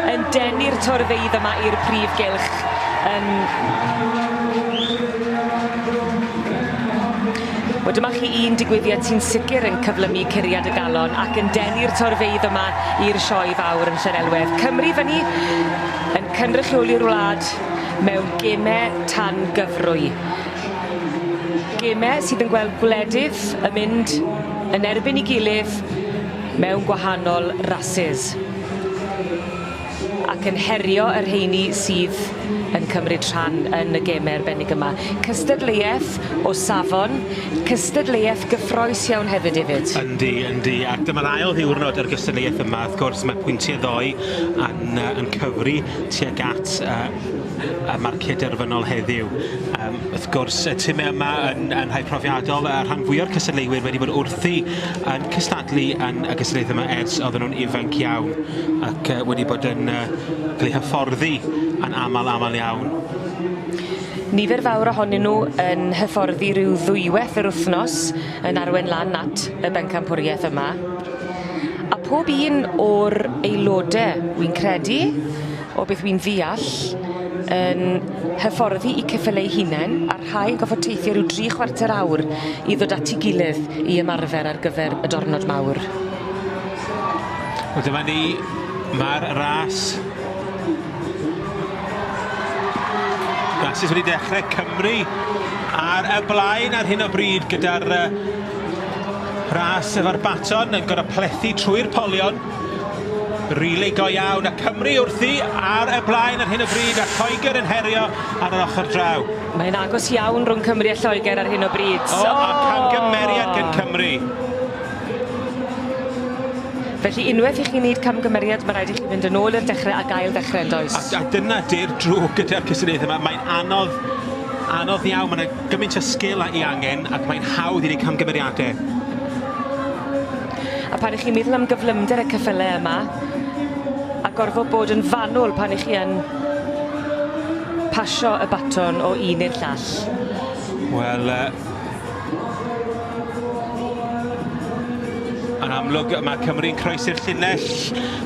Yn denu'r torfeydd yma i'r prif gylch yn Wel dyma chi un digwyddiad sy'n sicr yn cyflymu curiad y galon ac yn denu'r torfeydd yma i'r sioe fawr yn Llanelwedd. Cymru fyny yn cynrychioli'r wlad mewn gemau tangyfrwy. Gemau sydd yn gweld gwledydd yn mynd yn erbyn ei gilydd mewn gwahanol rasys ac yn herio y rheini sydd yn cymryd rhan yn y gemau arbennig yma. Cystadleuaeth o safon, cystadleuaeth gyffrous iawn hefyd, David. Yndi, yndi, ac dyma'r ail ddiwrnod o'r gystadleuaeth yma. Wrth gwrs, mae pwyntiau ddoe yn yy yn cyfri tuag at yy y marcie derfynol heddiw. Yym wrth gwrs y time yma yn yn rhai profiadol, y rhan fwya'r cystadleuwyr wedi bod wrthi yn cystadlu yn y gystadlaethau yma ers oedden nhw'n ifanc iawn ac yy wedi bod yn yy cael eu hyfforddi yn amal amal iawn. Nifer fawr ohonyn nhw yn hyfforddi ryw ddwyweth yr wthnos yn arwain lan at y bencampwriaeth yma, a pob un o'r aelode, wi'n credu, o beth wi'n ddeall, yn hyfforddi i ceffyl eu hunain, a rhai yn gorfod teithio rhyw dri chwarter awr i ddod at 'i gilydd i ymarfer ar gyfer y dornod mawr. Wel dyma ni, ma'r ras Blasus wedi dechrau Cymru ar y blaen ar hyn o bryd gyda'r uh, ras efo'r baton yn gorau plethu trwy'r polion. Rili go iawn a Cymru wrthi ar y blaen ar hyn o bryd a Lloegr yn herio ar yr ochr draw. Mae'n agos iawn rhwng Cymru a Lloegr ar hyn o bryd. O, oh. a camgymeriad oh. gen Cymru. Felly, unwaith i chi wneud camgymeriad, mae rhaid i chi fynd yn ôl i'r dechrau ac ail-ddechrau, yn does? A, a dyna di'r drwg gyda'r cystadleuaethau yma, mae'n anodd, anodd iawn, mae yna gymaint o sgil a'i angen ac mae'n hawdd i wneud camgymeriadau. A pan ych chi'n meddwl am gyflymder y cyffylau yma, a gorfod bod yn fanwl pan ych chi yn pasio y baton o un i'r llall. Wel, yy, Yn amlwg, mae Cymru'n croesi'r llinell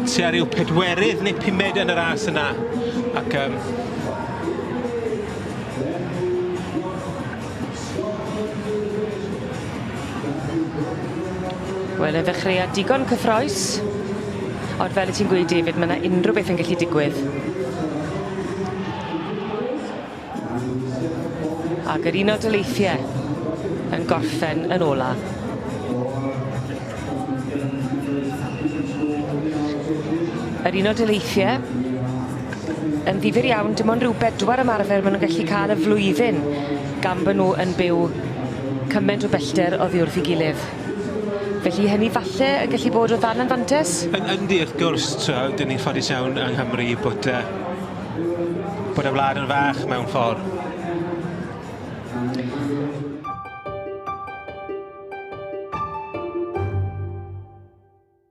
tua rhyw pedwerydd neu pumed yn y ras yna. Ac um, Wel, y ddechreuad digon cyffroes. Ond fel y ti'n gweud, David, mae yna unrhyw beth yn gallu digwydd. Ag yr Unol Daleithie yn gorffen yn ola. Yr Unol Daleithie yn ddifyr iawn dim ond rhyw bedwar ymarfer ma' nw'n gallu ca'l y flwyddyn gan bo' nw yn byw cyment o bellter oddi wrth 'i gilydd. Felly hynny falle yn gallu bod o dan anfantes? Yn yndi wrth gwrs t'wo' 'dyn ni'n ffodus iawn yng Nghymru bod yy bod y wlad yn fach mewn ffordd.